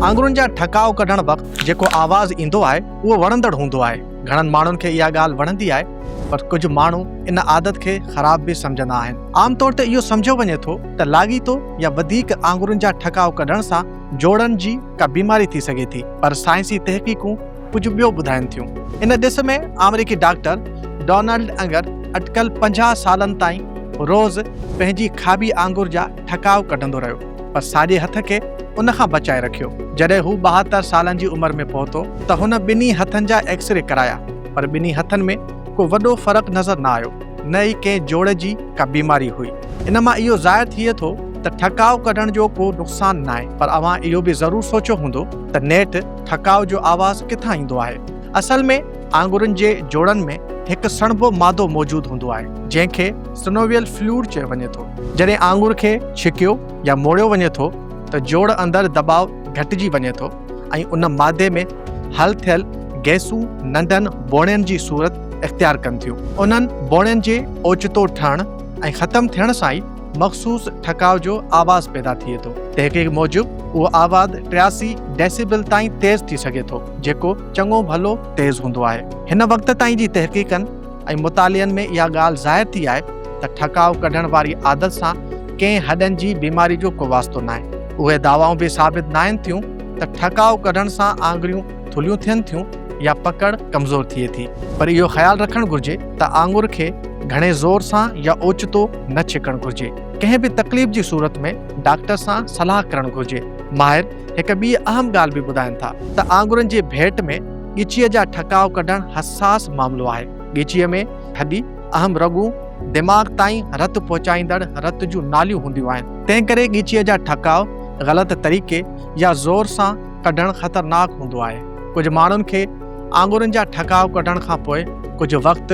آڱرين جا ٺڪاء ڪڍڻ وقت جيڪو آواز ايندو آهي اهو وڻندڙ هوندو آهي. گهڻن ماڻهن کي اها ڳالهه وڻندي آهي پر ڪجهه ماڻهو ان عادت کي خراب به سمجهندا آهن. عام طور تي اهو سمجهيو وڃي ٿو ته لاڳيتو يا وڌيڪ آڱرين جا ٺڪاء ڪڍڻ سان جوڙن جي ڪا بيماري ٿي سگهي ٿي پر سائنسي تحقيقون ڪجهه ٻيو ٻڌائين ٿيون. ان ڏس ۾ آمريڪي ڊاڪٽر ڊونلڊ انگر اٽڪل پنجاهه سالن تائين روز پنهنجي کاٻي آڱر جا ٺڪاء ڪڍندو رهيو پر ساڄي هٿ کي ان کان بچائي رکيو. جڏهن هو ٻاهتر سالن جي عمر ۾ پهتو ته هن ٻنهي هٿن جا ايڪس ري ڪرايا پر ٻنهي هٿن ۾ ڪو وڏو فرق نظر نه آيو نه ئي ڪنهن جوڙ جي ڪا بيماري هئي. ان مان اهو ظاهر ٿئي ٿو ته ٺڪاء ڪڍڻ جو ڪو نقصان ناهي پر اوهان اهو به ضرور سوچيو هوندو ته نيٺ ٺڪاء جو آواز ڪٿان ايندو آهي؟ اصل ۾ آڱرين جي جوڙن ۾ هڪ سڻڀو مادو موجود هوندو آهي، جنهن کي Synovial Fluid چيو وڃي ٿو. جڏهن آڱر کي ڇڪيو يا موڙيو وڃي ٿو ته جوڙ اندر دٻاء گهٽجي وڃي ٿو ۽ ان مادي ۾ حل ٿيل گئسون ننڍن بوڻين جي صورت اختيار ڪن ٿيون. انهن بوڻين جي اوچتو ٺهڻ ۽ ختم ٿيڻ سان ئي مخصوص ٺڪاء جو آواز پيدا ٿئي ٿو. تحقيق موجب اهو آواز ٽياسي ڊيسيبل تائين تيز ٿي سگهي ٿو، جيڪو چڱو ڀلو تيز هوندو آهي. هن وقت تائين جي تحقيقن ۽ مطالعن ۾ اها ڳالهه ظاهر ٿي آهي ته ٺڪاء ڪڍڻ واري عادت سان ڪنهن هڏن جي بيماري جو ڪو واسطو ناهي. اهي دعوائون به ثابت ناهن ٿيون ته ٺڪاء ڪڍڻ سان آڱريون ٿلهيون ٿين ٿيون يا پڪڙ ڪمزور ٿئي ٿي پر اهو خيال رکڻ گهرجي ته آڱر کي گهڻي زور سان يا اوچتو نه ڇڪڻ گهرجي ڪنهن به تڪليف جي صورت ۾ ڊاڪٽر سان صلاح ڪرڻ گهرجي ماهر هڪ ٻي اهم ڳالهه به ٻڌائين ٿا ته آڱرن جي ڀيٽ ۾ ڳچيء جا ٺڪاء ڪڍڻ حساس معاملو آهي ڳچيء ۾ هڏي اهم رڳون دماغ تائين رت پهچائيندڙ رت جون ناليون هونديون آهن تنهن ڪري ڳچيء جا ٺڪاء غلط طريقي يا زور سان ڪڍڻ خطرناڪ هوندو آهي. ڪجهه ماڻهن کي آڱرين جا ٺڪاء ڪڍڻ کان پوء ڪجهه وقت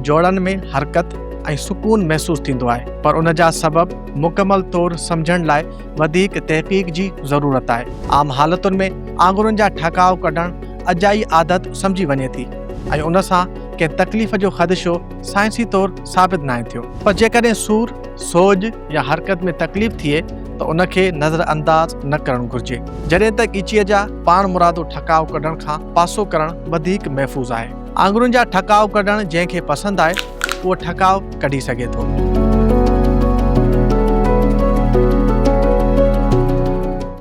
جوڙن ۾ حرڪت ۽ سڪون محسوس ٿيندو آهي، پر ان جا سبب مڪمل طور سمجهڻ لاء وڌيڪ تحقيق جي ضرورت آهي. عام حالتن ۾ آڱرين جا ٺڪاء ڪڍڻ اجائي عادت سمجهي وڃي ٿي ۽ ان سان ڪنهن تڪليف جو خدشو سائنسي طور ثابت ناهي ٿيو. پر جيڪڏهن سور، سوڄ، يا حرڪت ۾ تڪليف ٿئي ته ان کي نظر انداز نه ڪرڻ گهرجي، جڏهن ته ڳچيء جا پاڻمرادو ٺڪاء ڪڍڻ کان پاسو ڪرڻ وڌيڪ محفوظ آهي. آڱرين جا ٺڪاء ڪڍڻ جنهن کي پسند آهي، اهو ٺڪاء ڪڍي سگهي ٿو.